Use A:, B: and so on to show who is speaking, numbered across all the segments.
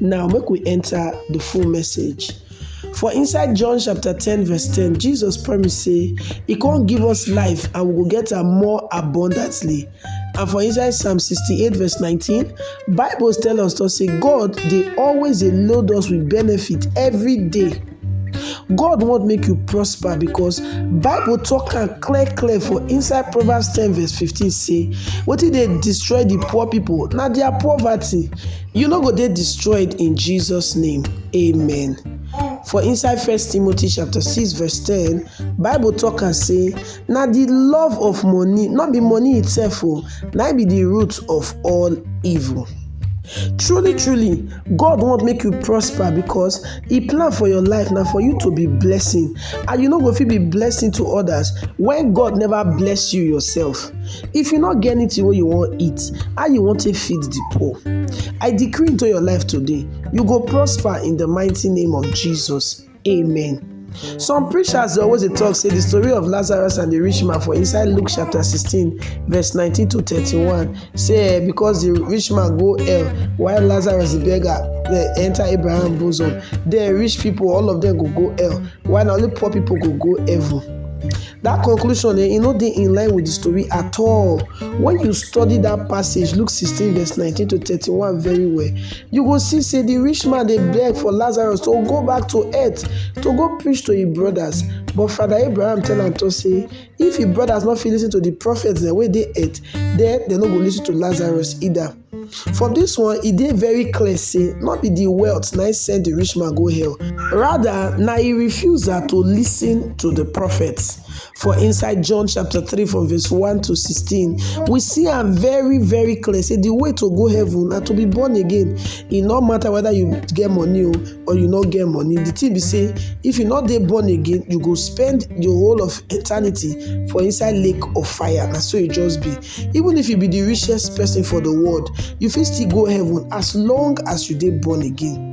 A: Now make we enter the full message. For inside John chapter 10 verse 10, Jesus promised say he come give us life and we go get am more abundantly. And for inside Psalm 68 verse 19, Bible tell us to say God dey always dey load us with benefit every day. God want make you prosper because Bible talk am clear clear for inside Proverbs 10 verse 15 say wetin dey destroy the poor people na their poverty. You no go dey destroyed in Jesus name. Amen. For inside First Timothy chapter 6 verse 10, Bible talk and say, na the love of money, not be money itself, oh, na be the root of all evil. Truly, truly, God want make you prosper because E plan for your life na for you to be blessing and you no go fit be blessing to others when God never bless you yourself. If you no get anything wey you wan eat, how you wan take feed the poor? I decree into your life today, you go prosper in the mighty name of Jesus. Amen. Some preachers dey always dey talk say the story of Lazarus and the rich man for inside Luke chapter 16 verse 19 to 31 Say, eh, because the rich man go hell, while Lazarus the beggar eh, enter Abraham bosom, the rich people, all of them go go hell, while only poor people go go heaven. That conclusion, eh, you know, they in line with the story at all. When you study that passage, Luke 16, verse 19 to 31, very well, you go see, say, the rich man they beg for Lazarus to go back to earth, to go preach to his brothers. But Father Abraham tell him to say, If im brothers no fit listen to the prophets dem wey dey earth, then dem no go listen to Lazarus either. From this one, e dey very clear say no be the wealth na im send the rich man go hell. Rather, na im refusal to listen to the prophets. For inside John chapter 3 from verse 1 to 16, we see am very very clear say the way to go heaven na to be born again. E no matter whether you get money o, or you no get money the thing be say if you no dey born again you go spend the whole of eternity for inside lake of fire na so e just be even if you be the richest person for the world you fit still go heaven as long as you dey born again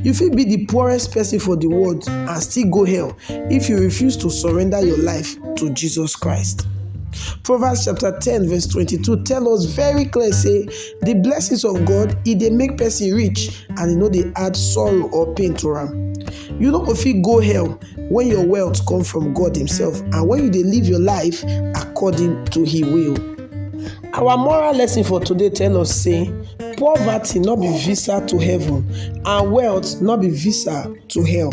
A: you fit be the poorest person for the world and still go hell if you refuse to surrender your life to jesus christ proverbs chapter ten verse twenty-two tell us very clear say The blessings of God e dey make person rich and e no dey add sorrow or pain to am. You no go fit go hell when your wealth come from God himself and when you dey live your life according to he will. Our moral lesson for today tell us say poverty no be visa to heaven and wealth no be visa to hell.